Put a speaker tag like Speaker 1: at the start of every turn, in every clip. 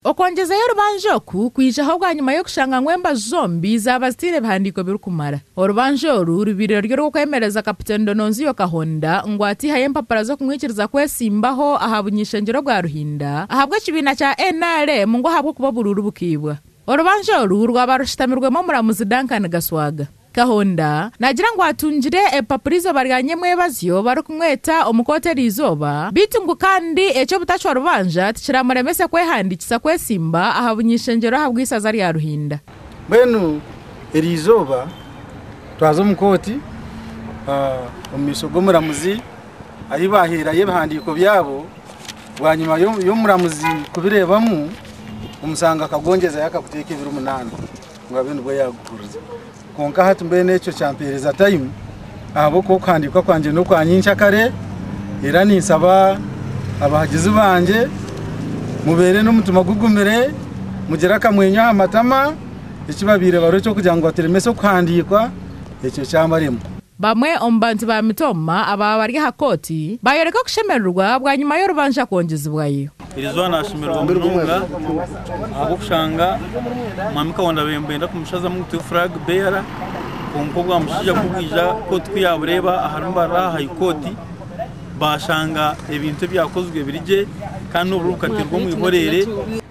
Speaker 1: Okwongyezayo orubanja oku kwijaho bwanyima y'okushanga ngu embaju zombi zaaba zitaine bihandiiko birikumara. Orubanja oru rubaire ruri orw'okwemereza Kapiteeni Dononzio Kahonda ngu ataihayo empapura z'okumwikiriza kwetsimbaho aha buny'ishengyero obwa Ruhinda ahabw'ekibiina kya nrm ngu ahabw'okuba oburuuru bukaibwa. Orubanja oru rwaba rushutamirwemu omuramuzi Duncan Gaswaga. Kahonda naagira ngu atungire ebipapura eizooba rya nyemwebazyo barikumweta omu kooti eriizooba beitu ngu kandi eky'obutacwa rubanja tikiramuremese kwehandiikisa kwesimba aha buny'ishengyero ahabw'eisaza rya Ruhinda. Mbwenu
Speaker 2: eriizooba twaza omu kooti omu maisho g'omuramuzi ahi baaheerayo ebihandiiko byabo bwanyima y'omuramuzi kubireebamu omusango akagongyeza yakaguteeka ebiro munaana. Ngabe nibwo yaagukuriza. Kwonka hati mbwenu ekyo kyampeereza tayimu ahabw'okuba okuhandiikwa kwangye n'okwa nyinkya kare. Era ninsaba abahagizi bangye mubeere n'omutima gugumire, mugire akamwenyo aha matama, eki babaire bariho eky'okugira ngu baturemese okuhandiikwa, ekyo kyabarema. Bamwe omu
Speaker 1: bantu ba Mitoma abaaba bari aha kooti baayoreka okushemererwa bwanyima y'orubanja kwongyezibwayo. Irizooba nashemererwa
Speaker 3: munonga ahabw'okushanga Mwami Kaunda benda kumushazamu ngu tube Flag Bearer kwonka obwamushaija kubwija kooti kuyabureeba aharimu barira aha High Court bashanga ebintu ebyakozirwe biri gye kandi n'oburiro bukateerwa omu ihoreere.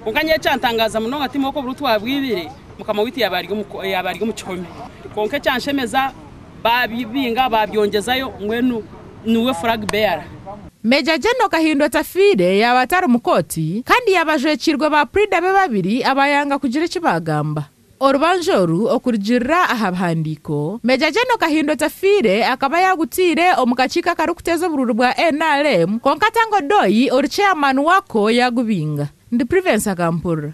Speaker 3: Kwonka nyowe
Speaker 4: ekyantangaaza munonga tihiine oku oburiro twabwibire Mukama waitu yaaba ari omu kihome kwonka ekyanshemeza, Baabibinga baabyongyezayo mbwenu niwe flag bearer. Major General
Speaker 1: Kahinda otafiire yaaba atari omu kooti kandi yaaba ajwekiirwe ba Prida be babiri abaayanga kugira eki baagamba. Orubanja oru okurugirira aha bihandiiko, Major General Kahinda otafiire akaba yaagutaire omu kakiiko akarikuteeza oburuuri bwa nrm kwonka Tanga Odoi ori chairman waako yaagubinga. Ndi Privence Akampurira.